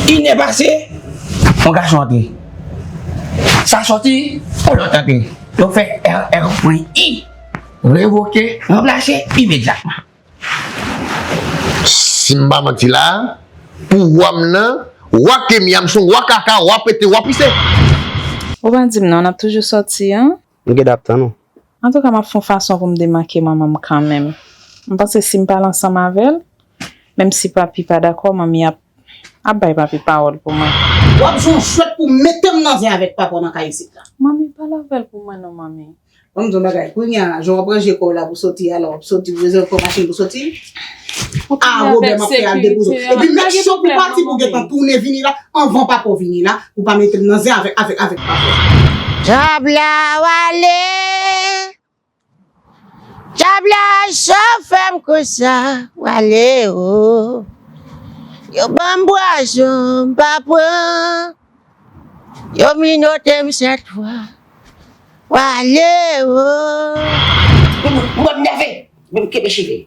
Inè pase, yon gason antre. Sa soti, yon lòt antre. Yo fè RR pwen I. Revoke, ranplase, imedyatman. Si m pa manti la a, pouvwa m nan, wa Kenya, m son wa kaka, wa pete, wa pise. Ou pa di m non, n ap toujou sòti an. M gen dan ap tann ou. Antouka m ap fon fason pou m demanke manman m kanmenm. M panse si m pale ansanm avè l, menm si papi pa dakò manmi ap ap bay papi pawòl pou mwen. W ap jwenn yon chwèt pou mete m nan zen avèk papa w nan kay isit la. Manmi, pale avè l pou mwen non manmi. Bon m di w yon bagay, kounye a jan w ap ranje kò w la pou w soti a lè w ap soti ou bezwen yon kò machin pou w soti? Ah Robert map fè al depoze w. Epi make sure pou pati pou gentan tounen vini la anvan papa w vini la pou pa mete m nan zen avèk avèk avèk papa w. Djòb la wale Djòb la cho fèm konsa wale o Yo banm pwazon m pa pran Yo minote m 7 fwa wale o. Ou wap nève, men m kenbe cheve.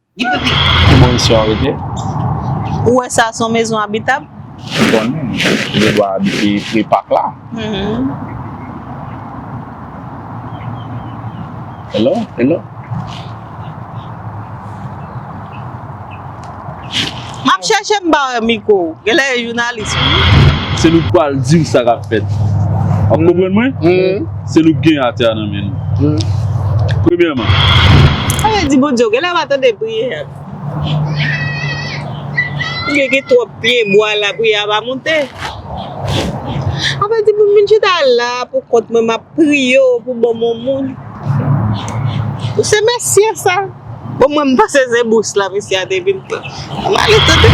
Ki bò misye an rete? Ou wè sa son mezon abitab? Ou konnen m gen dwa abite pre pak la. Hello hello. Map chèche m pa wè micro w. Genlè e jounalis wi. Se nou k pral di m sa kap fèt. Wap konprann mwen? Se nou k gen atè a nan men nou. Premyèman. Sa vle di Bondye w genlè pa tande priyè m. Oubyen gen twòp pye bwa la priyè a pa monte. Sa vle di pou m vin chita la pou kont mwen map. priye w pou banm yon moun ou se mesye sa bon mwen m pa se se bous la mesye a te vin pran an m ale tande.